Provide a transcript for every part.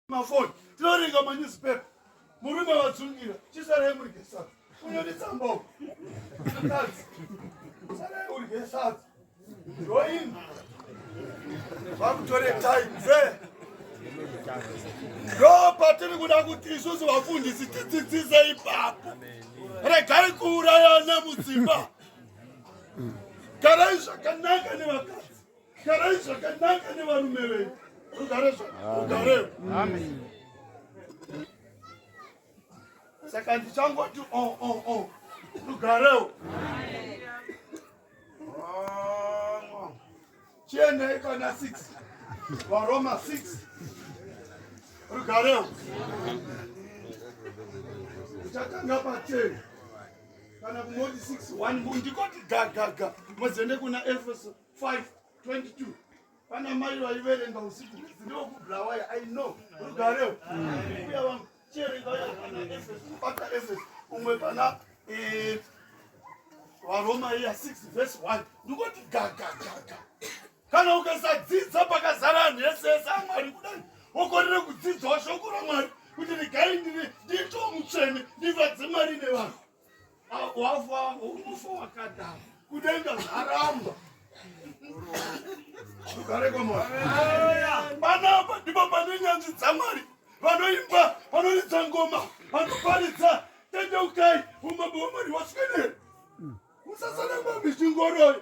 mafoni tinoverenga manewspaper murume vatsungira chisarai murye sadza kunyonitsambao mukadzi sarai urye sadza ndoini vakutore time ve ndo patiri kuda kuti isusu vafundisi tidzidzise ipapo regai kuurayana mudzimba garai zvakanaka nevakadzi garai zvakanaka nevarume venyu rugare zvarugarewo saka ndichangoti o oh, o oh, o oh. rugarewo chiendei kana 6 varoma 6 rugarewo uchatanga pateni kana kumoti 6 1 ndikoti gagaga mozoende kuna efeso 5:22 pana mai vaiverenga usiku ndiwo kubhulawaya i know rugarewo uya vangu chierenga uya pana efes kubata efes umwe pana eh, varoma iya 6 vhesi 1 ndikoti gagagaga kana ukasadzidza pakazara anhu ese ese amwari kudai wokorere kudzidzawo shoko ramwari kuti regai ndiri nditomutsvene ndivadze mwari nevanhu wafa ufa wakadaro kudenga zvaramba ukareko panapa ndipo pane nyanzvi dzamwari vanoimba vanoridza ngoma vanoparidza tendeukai umambo wamwari waswedere musasana mamichingoroyo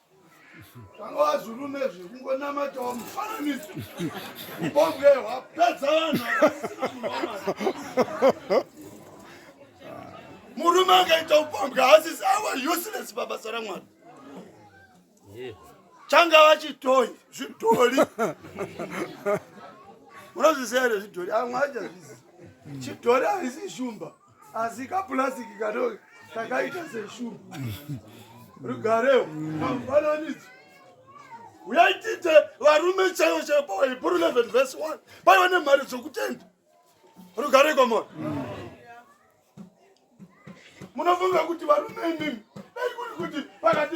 Vanga vazurume zvekungonamatawo mufananidzo ubonge hwapedza vanhu murume akaita upombwe haasisi awa useless pabasa ramwari changa vachitoi zvidhori unozviziva here zvidhori amwe achazvizi chidhori haisi shumba asi kapurasiki kadoko kakaita seshugu rugareo kamufananidzo uyaitite varume chaivo chaivo pawahebrew 11 vhesi 1 paiva nemhari dzokutenda rugare kwamona munofunga kuti varume imimi dai kuri kuti pakati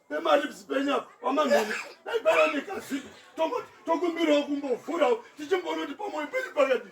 pemaribs penyapa wamamheni dai paiva nekazii tokumbirawo kumbovhurawo tichimboona kuti pamwoyo penyu pakadii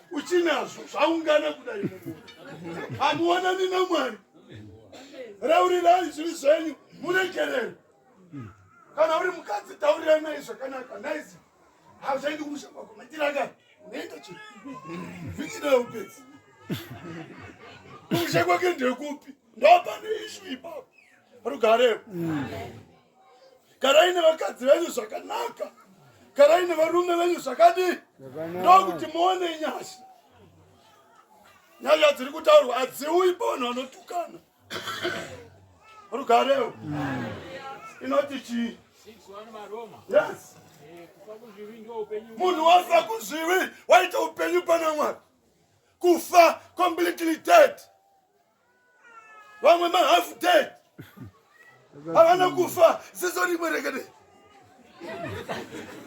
uchinazvo zvaungana kudai mumuri hamuonani namwari raurirai zviri zvenyu muregerere kana uri mukadzi taurirai nai zvakanaka naizi hazvaendi kumusha kwako matiraka unoenda chi vikidai upedzi kumusha kwake ndekupi ndopane ishu ipapo rugarepo garai nevakadzi venyu zvakanaka garai nevarume venyu zvakadii ndokuti muone nyasha nyaya dziri kutaurwa hadziuyi pavanhu vanotukana rugarewo inoti chii yes munhu wafa kuzvivi waita upenyu pana mwari kufa completely dead vamwe ma half dead havana kufa ziso rimwe rekede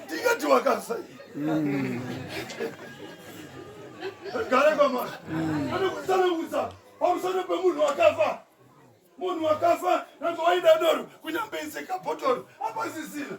tingati wakafa mm. gara kwamwari anokusanangudza mm. pamusoro pemunhu wakafa munhu wakafa nanga waida doro kunyambeise kabhotoro apasisina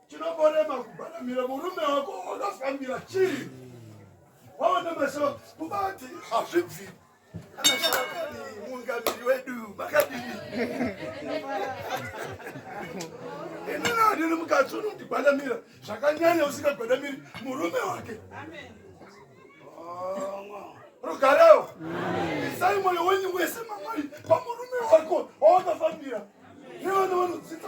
Chinomborema kubaramira murume wako wakafambira chii? Waona maso kubati hazvibvi. Mungamiri wedu makadini? Ini nadini mukadzi unondigwadamira zvakanyanya usingagwadamiri murume wake. Amen. rugareo isai mwoyo wenyu wese mamwari pamurume wako wawakafambira nevana vanodzidza